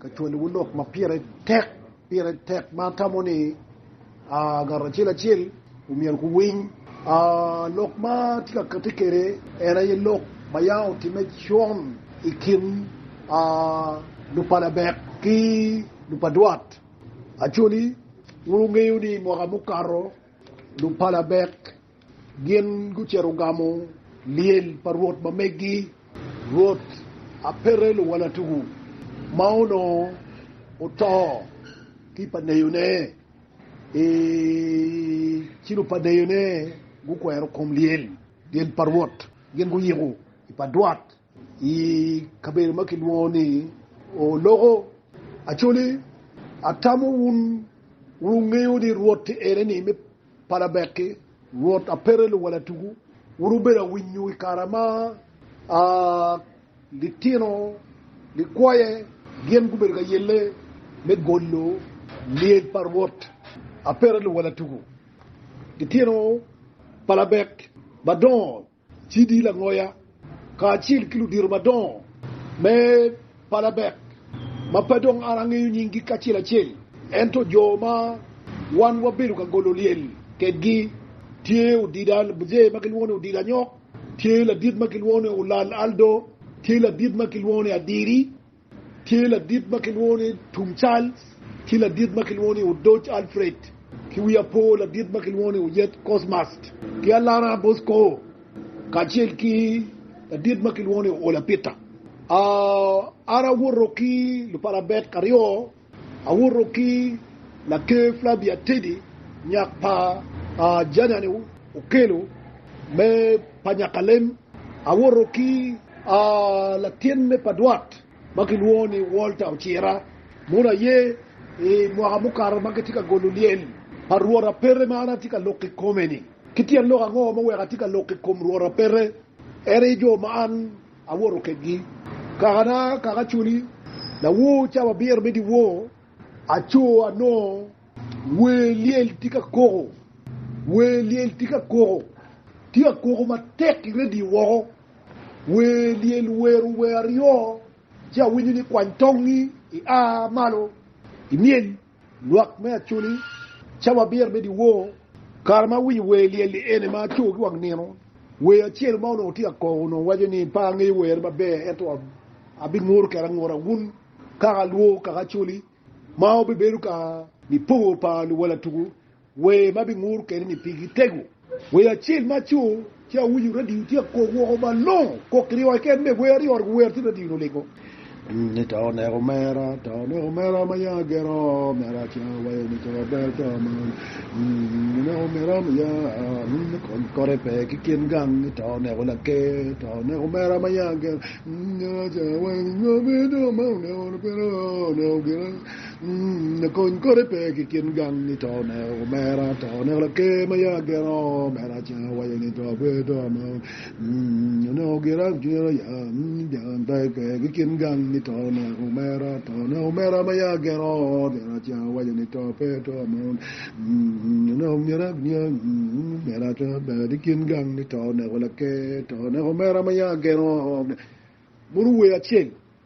Ka cwalowu lok ma pire tek, pire tek ma atamo ni ngat acel acel omyero guwiny. Lok ma atye ka kati kwede en aye lok ma ya otimme con i kin lupalabek ki lupadwat. Actually, wun wungeyo ni mwaka mukato lupalabek Gin gucito gamo lyel pa rwot ma meggi, Rwot Apete luwala tuku, ma onongo oto ki pa neyone, i ci lupaneyone gukwero kom lyel pa rwot, gin guyiko i pa dwot. I kabedo ma kilwongo ni Oloko, Acholi, atamo wun wungeyo ni Rwot tye ene ni me Palabek-ki, Rwot a pete luwala tuku. Wun wubedo awinyo i kare ma litino likwoye gin gubedo ka yelle me golo lyec pa Rwot a pete luwala tuku, litino Palabek madongo. Cidi Langoya kacel ki ludito madongo me Palabek ma pe dong an angeyo nyinggi kacel acel, ento jo ma wan wabedo ka golo lyel kedgi tye Odida Bzee ma kilwongo ni Odida Anyok, tye ladit ma kilwongo ni Olal Aldo, tye ladit ma kilwongo ni Adiri. Tye ladit ma kilwongo ni Tum Charles ki ladit ma kilwongo ni Odoc Alfred ki wi apo ladit ma kilwongo ni Oyet Cosmas ki Alana Bosco kacel ki ladit ma kilwongo ni Oola Peter. An awoto ki lupalabet aryo. Awuto ki Laker Flavia Teddy nyak pa Janani Okello me pa nyakalem. Awuto ki latinne pa dwot ma kilwongo ni Walter Ocira mono aye i mwaka mukato ma kitye ka golo lyel pa Rwot Apete ma an atye ka loko i kome-ni. Ki tyen lok ango ma weko atye ka loko i kom Rwot Apete? En aye jo ma an Awoto kedgi, kakana kaka acoli, lawor cawa abiro me dyewor. Aco anongo wer lyel tye ka koko, wer lyel tye ka koko, tye ka koko matek i redio woko. Wer lyel wero wer aryo, ci awinyo ni kwany tongngi, ia malo, imyel. Lwak me Acholi, Cawa Abiro me Dyewor. Kare ma awinyo wer lyel-li ene ma aco ki wang nino. Wer acel ma onongo tye ka koko onongo waco ni, Pe angeyo were maber ento abinguto kede anguta wun kaka alwor kaka Acholi ma wubibedo ka nipongo pa luwala tuku. Wer ma bingur kene ni pigi tego. Wer acel ma aco ci awinyo radio tye ka kok woko malongo kok ki ryoyo keken me wer aryo ot guwer ci radio ni olingo ni to oneko omera to oneko omera ma ya gero omera ca wayo ni co ber to man oneko omera ma ya ni kony kote pe ki kin gang ni to oneko laker to oneko omera ma ya gero omera ca wayo ni co ber to man oneko oneko gero Kony kore pe ki kin gang ni to oneko omera, to oneko laker ma yam ageno, omera cen owaco ni to pe to ma oneko gira cwinye oya, cen pe pe ki kin gang ni to oneko omera, to oneko omera ma yam ageno, omera cen owaco ni to pe to ma oneko gira cwinye omera cen pe ki kin gang ni to oneko laker, to oneko omera ma yam ageno, munu wer acel.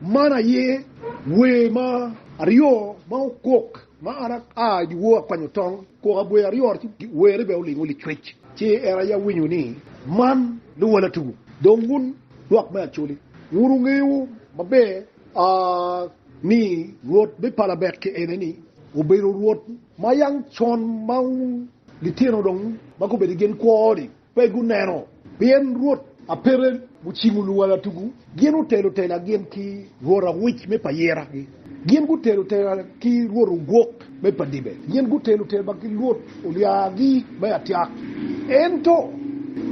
Man aye wer ma aryo ma okok ma an aa i dyewor akwanyo tong, koko abwer aryo-ni ci werre bene olingo licwec. Ci en aye awinyo ni, Man luwala tugu, dong wun lwak me Acoli, wun wungeyo maber ni Rwot me pala bet ki eneni obedo Rwot ma yang con ma wun litino dong ma gubedo i gen kwo-ni pe guneno, pien rwot Apere gucingo luwala tugu, gin otelo tela gin ki rwot Awic me pa Yera, gin gutelo tela ki rwot Ogwok me pa Dibe, gin gutelo tela ki rwot Olyagi me Atyak. Ento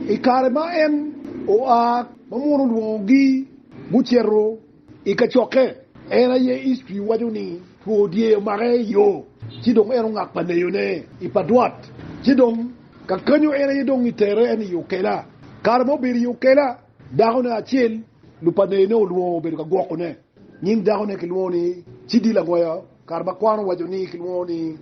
i kare ma en oa ma mono olwongogi, gucito. I kacokke, en aye history waco ni two dye omake i yo ci dong en ongak pa neyo ne i pa dwat ci dong kakanyo en aye dong i tere en i okela. Kare ma obedo i okela dako ne acel lu pa neyo ne olwongo obedo ka gwoko ne. Nying dako ne ki lwongo ni Cidi Lagoya kare ma kwano waco ni ki lwongo ni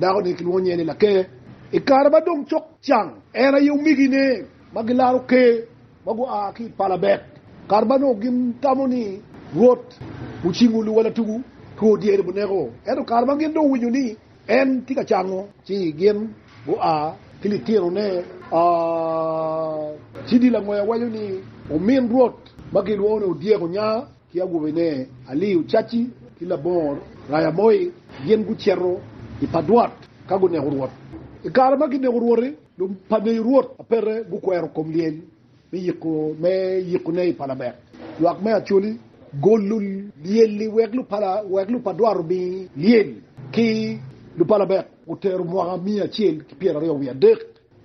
dako ne ki lwongo nye ni Laker. I kare ma dong cok cang en aye omigi ne ma gilaro ker. ma gua ki i pala bek, kare ma nongo gin tamo ni Rwot ocingo luwala tugu, two dyere buneko. Ento kare ma gin dong owinyo ni en tye ka cango, ci gin gua ki litinone. Ci dil angwe awaco ni, Omin Rwot ma gilwongo ni odyek onya. ki agwobine Aliu Caci ki Labongo Raya Moi gin gucito i Padwat ka guneko Rwot. I kare ma kineko Rwot-ti, lupaneyi Rwot ma pete gukwero kom lyel me yiko me yikone i Palament. Lwak me Acholi golo lyel-li wek lupala wek lupadwat omi lyel ki lupalament otero mwaka miya acel ki pyeraryo wiye adek.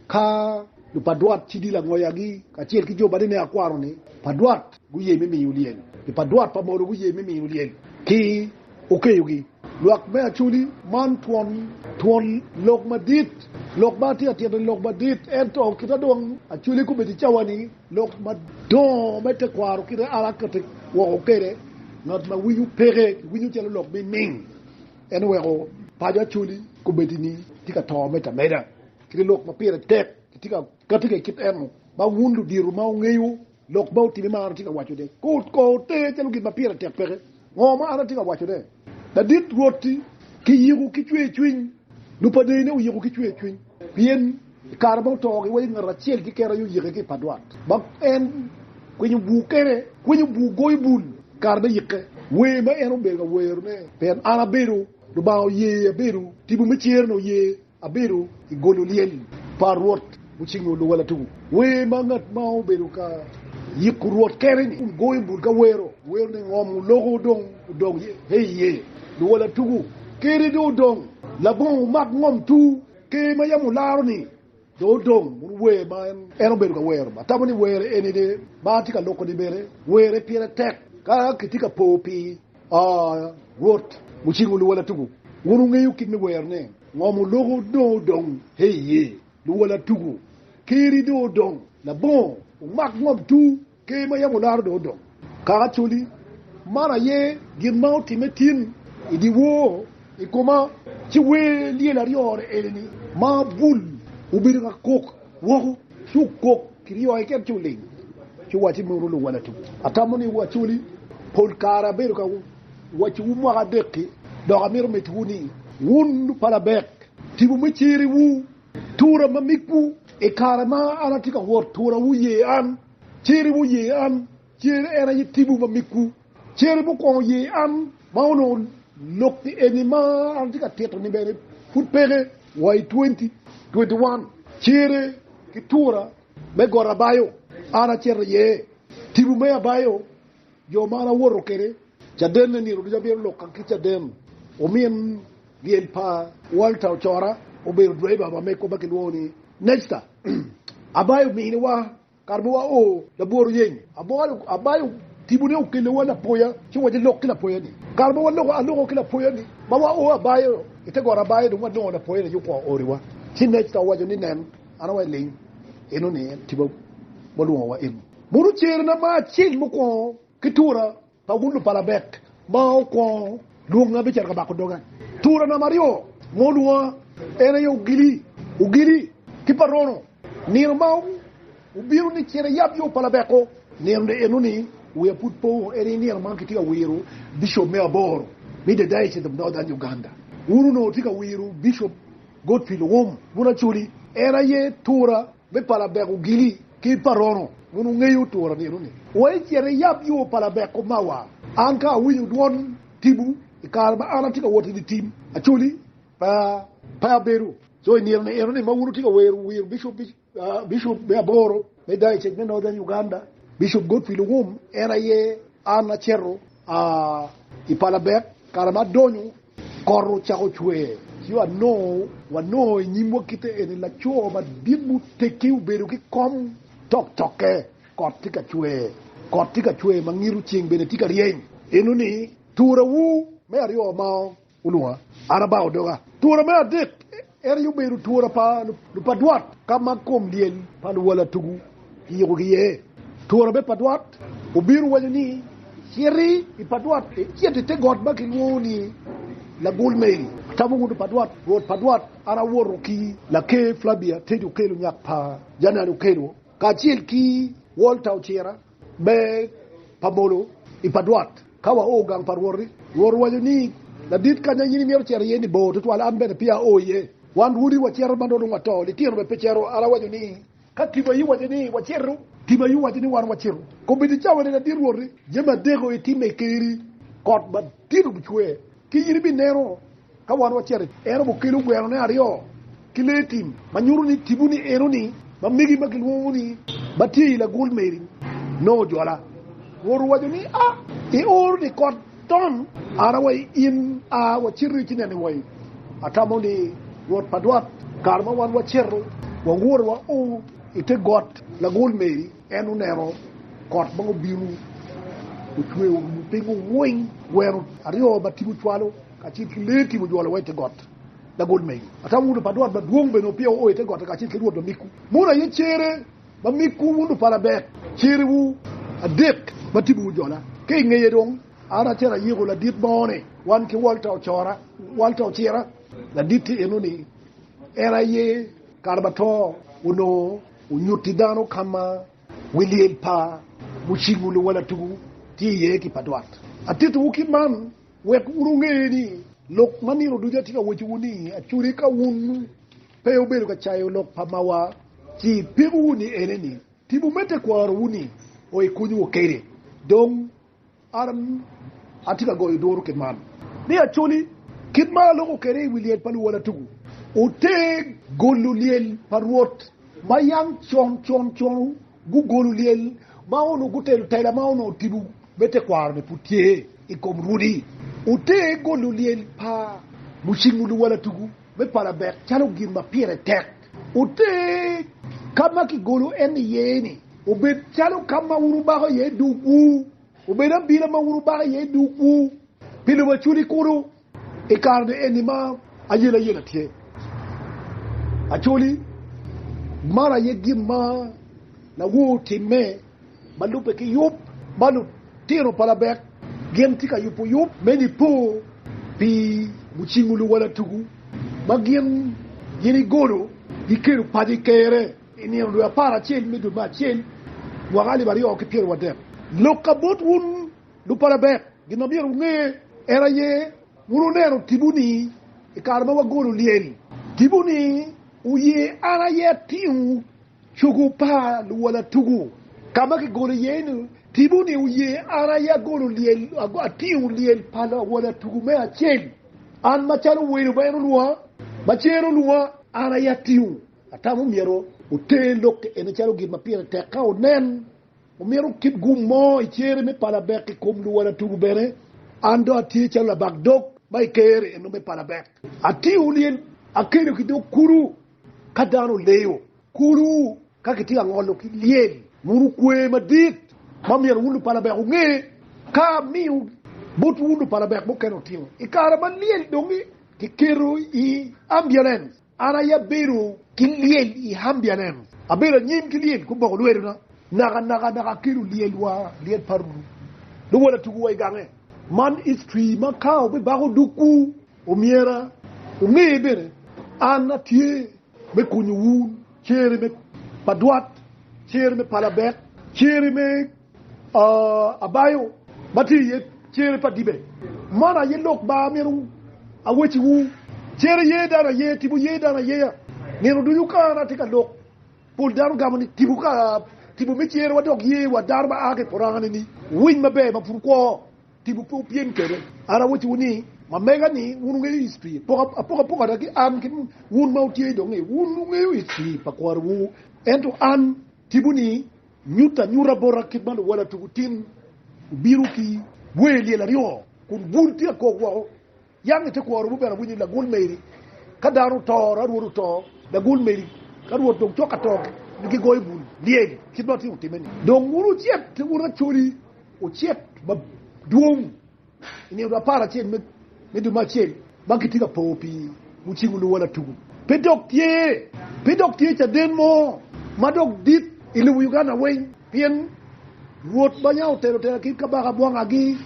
Ka jo pa dwot cidi langoyagi kacel ki jo bade me akwaro-ni pa dwot guye me miyo lyel, jo pa dwot pa Molo guye me miyo lyel ki okeyogi. Lwak me Acholi, Man twon, twon lok madit. Lok ma atye ka tito-ni lok madit, ento kita dong Acholi kobedo i cawa-ni, lok madongo me tekwaro kite an aketo woko kwede. Ngat ma winyo peke kiwinyo calo lok miming, ento weko paco Acholi kobedo ni tye ka to ameda ameda. kede lok ma pire tek kitye ka kati ka i kit eno ma wun ludito ma wungeyo lok ma otime ma an atye ka wacone. Ko ote calo gin ma pire tek peke ngo ma an atye ka wacone. Ladit Rwot-ti, kiyiko ki cwercwiny, lupadene oyiko ki cwercwiny, pien i kare ma oto giwaco ngat acel keken aye oyike ki i padwat ma en kwinyo bur kene, kwinyo bur goyo bul i kare me yike, wer ma en obedo ka werone, pien an abedo Lubanga oye abedo, tipo me cer-ni oye. Abedo i golo lyel pa Rwot mucingo luwala tuku. Wer ma ngat ma obedo ka yiko Rwot kere-ni kun goyo bul ka wero werone ngom oloko dong odok he iye. Luwala tuku kere dong odong labongo omak ngom tuu. Ker ma yam olaro-ni dong odong bur wer ma en obedo ka wero. Atamo ni wer eni-ni ma atye ka loko-ni bene were pire tek ka kitye ka po pi. Oh, Rwot, muciko luwala tuku, wun wungeyo kit me werone. Ngom oloko dong odong he iye, luwala tuku, Keri dong odong labongo, wumak ngom tu, Ker ma yam olaro dong odong kaka coli. Man aye gin ma otimme tin i dyewor i koma, ci wer lyel aryo-ni eni ma bul obedo ka kok. woko, ci okok ki ryo keken, ci oling, ci owacci, Munu luwalatum, atamo ni wacoli. Pol kare abedo ka wacciwu mwaka adek-ki, dok amito mitiwu ni, wun lupalabek, tipo me cer-riwu, tura ma migwu. I kare ma an atye ka wot, turawu ye an, cer-riwu ye an, cer en aye tipo ma migwu. Cere mukwongo ye an ma onongo lok eni ma an atye ka tito-ni bene pud peke wa i 2021. Cere ki tura me got abayo an acito iye. Tipo me abayo jo ma an awoto kwede cadenne nino ducu abino loka ki caden. Omin lyel pa Walter Ocora obedo driver pa mego ma kilwongo ni Nexta. Abayo miniwa Kare ma wao labwor oyeny, abolo abayo tibone okelewa lapoya ci waci lok ki lapoya ni. Kare ma waloko aloko ki lapoya ni ma wao abayo i te got abayo dong walongo lapoya ni ci okwa ori wa ci Necta owaco ni nen an awa iling eno ni en tiba ma olwongo wa eni. Mono cere na ma acel mukwongo ki tura Paulo pa Labek ma okwongo lwonga bicito ka bako doga. Tura namba aryo ma olwonga en aye ogili, ogili ki parono. Nino ma obino ni cit iyab yo pa Labeko, nino eno ni wiya pud po, en aye nino ma kitye ka wiro bicop me aboro me The Diocese of Northern Uganda. Un onongo wutye ka wiro Bicop Godfrey Luwum bun Acholi, en aye tura me pa Labek ogili Ki pa rono, wun wungeyo turo nino-ni. Wa icit iyab yo pa labek omawa. An ka awinyo dwon timwu i kare ma an atye ka wot i dye tim, acoli pa pe abedo. Co i nino enoni ma wun wutye ka wero wer bicup, bicup me aboro me dayocec me Northern Uganda, Bicup Godfrey Luwum, en aye an acito i pa labek kare ma adonyo Kot ocako cwer, ci wanongo i nyimwa kite eni laco madit muteggi obedo ki kom toktokke. Kot tye ka cwer, kot tye ka cwer ma ngito, ceng bene tye ka ryeny. Enoni turawu me aryo ma olwonga, an abao doga. Tura me adek En aye obedo twora pa lupadwat ka ma kom lyel pa luwala tugu kiyiko ki iye. Twora me padwat obino waco ni, Citi i padwat, icit i te got ma kilwongo ni Lagul Meli, atamo wunu padwat, rwot padwat, an awoto ki Laker Flavia Teddy Okello nyak pa Janani Okello kacel ki Walter Ocira, me pa molo i pa dwot. Ka wao gang pa Rwot-ri, Rwot owaco ni, Ladit kanya in imito cito iye-ni bor tutwal, an bene peya ao iye. Wan rwodi wacito ma nongo dong wato, litino bene pe cito. An awaco ni, 'Ka timayi owaco ni, Wacito! Timayi owaco ni, Wan wacito! Kobbe ticawene, ladit Rwot-ri, jami adek-ku itimo i ker-ri, kot madit obicwer, Kit in ibineno ka wan wacito i. En obukelo gwerone aryo ki lee tim ma nyuto ni tipo ni enoni ma megi ma gilwongo ni ma tye i lagul meri nongo ojwala. Rwot owaco ni, A! Ioro ni kot tom an awai in, a waciti ci nene wai. Atamo ni Rwot pa dwat kare ma wan wacito wawoto wa o ite got lagul meri. En oneno kot ma obino ocweyo orumo pingo weng, gweno aryo ma tipo cwalo kacel ki lee tim ojwolo wa i te got. Lagol mego atamo wun lupat Rwot madwong bene opye oo i te gotta kacel ki Rwot ma migwu. Mono aye cere ma migwu wun lupalabek, cerewu adek ma tipo ojola. Ka i ngeye dong an acito ayiko ladit moni wan ki Walter ocora, Walter ocira. Laditte enoni en aye kare ma to onongo. Onyutti dano ka ma wi lyel pa mucingwu luwala tugu tye iye ki pa dwat. Atittiwu kit man wek wun wunge ni lok ma nino ducu atye ka wacciwu ni acode ka wun pe wubedo ka cayo lok pa mawa, ci peko wunu ni ene ni, tipo me tekwarowu ni oikunywu kede. Dong. An atye ka goyo duru kit man ni acoli kit ma aloko kwede i wi lyel pa luwala tugu oteg golo lyel pa Rwot ma yam con con con gugolo lyel ma onongo gutelo tela ma onongo tipo me tekwaro-ni pud tye i kom rwodi. Oteg golo lyel pa mucingo luwala tugu. Me pala bek calo gin ma pire tek oter ka ma kigolo en iye-ni, obed calo ka ma wun wubako iye dogwu, obed abila ma wun wubako iye dogwu pi lobo acwali kunu. I kare-ni eni ma ayela yela tye, acwali maro aye gin ma lawor timme. ma lubbe ki yub ma lutino pa Labek gin tye ka yubo yub me Nipo pi mucingo luwala tugu ma gin gini golo gikelo paco i Kerre i nino dwe apar acel me dwe me acel mwaka alip aryo ki pyeraryo adek. Lok ka bot wun lub pa Labek, gin ma myero wunge en aye, wun wuneno tipo ni i kare ma wagolo lyel tipo ni wuye an aye atingo Cogo pa luwala tugo ka ma kigolo iye ni Tibu ni oye, an aye agolo lyel, atingo lyel pa luwala tugo me acel, an macalo welo ma en olwonga, ma ci en olwonga, an aye atingo. Atamo myero wuter lok eni calo gin ma pire tek ka wunen. Omyero wukit gum mo i cere me palabek i kom luwala tugo bene. An dong atye calo labak dog ma i ker eno me palabek. Atingo lyel, akelo ki dog kulu. Ka dano leyo kulu ka kitye ka ngolo ki lyel, wunu kwe madit ma myero wun lupalabek wunge ka amiyo bot wun lupalabek mukene otingo. I kare ma lyel dong kiketo i ambiulens, an aye abedo ki lyel i ambiulens, abedo anyim ki lyel guboko lwetona nakanaka dok akelo lyel wa, lyel pa Luwotatukuwa i gange. Man history ma ka obibako dukwu. Omyera wunge bene, an atye me konyo wun cere me padwat, cere me palabek, cere me abayo ma tye iye cere pa dibe. Man aye lok ma amito awecciwu, cere ye dano aye, tipo ye dano ayeya. Nino ducu ka an atye ka lok, pol dano gamo ni tipo ka tipo me cerewa dok ye wa dano ma a ki i purangane-ni winy maber ma pud kwo. Tipo pe opyem kede. An awacci wu ni, ma mega ni wun wungeyo ic pi poko apoka poko ada ki an ki wun ma wutye idong ni wun wungeyo ic pi pa kwaro wu, ento an tipo ni nyut anyuta bota kit ma luwala tuku tin obino ki wer lyel aryo kun bul tye akok woko. Yam ite kworo wun bene awinyo lagul meri ka dano oto, ra rwot oto, lagul meri ka rwot dong cok atoke ni gigoyo bul lyel kit ma otyeko time ni. Dong wun wucit ki wun Acholi ocit ma dwong i nino dwe apar acel me dwe me acel ma kitye ka po pi wu ci wuluwa latugu pe dok tye pe dok tye caden mo ma dok dit i lobo Uganda weng. Pien Rwot ma nya otelo tela kit kabaka bwangagi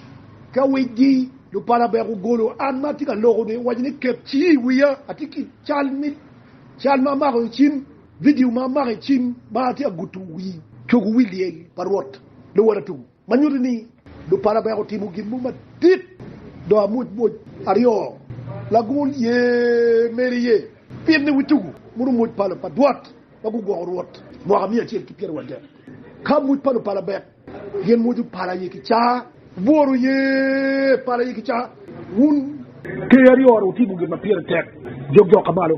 ka wicgi. Lupala bek ogolo an ma atye ka lokoni, owaco ni, 'Ket cingi i wiya, atye ki cal ma amako i cim, vidio ma amako i cim ma atye ka gudo wi cogo wi lyel pa Rwot luwota tuku, ma nyuto ni lupala bek otimo gin mo madit dong amwocmwoc. Aryo, lagol ye mere iye, pien ni wi tuku murumoc pala pa Rwot. ma gugwoko Rwot i mwaka miya acel ki pyeraryo adek, ka muc pa lupala bek, gin mwoco pala aye ki caa. Bworo ye pala aye ki caa. Wun ker aryo-ru wutimo gin ma pire tek, jok jok ka malo.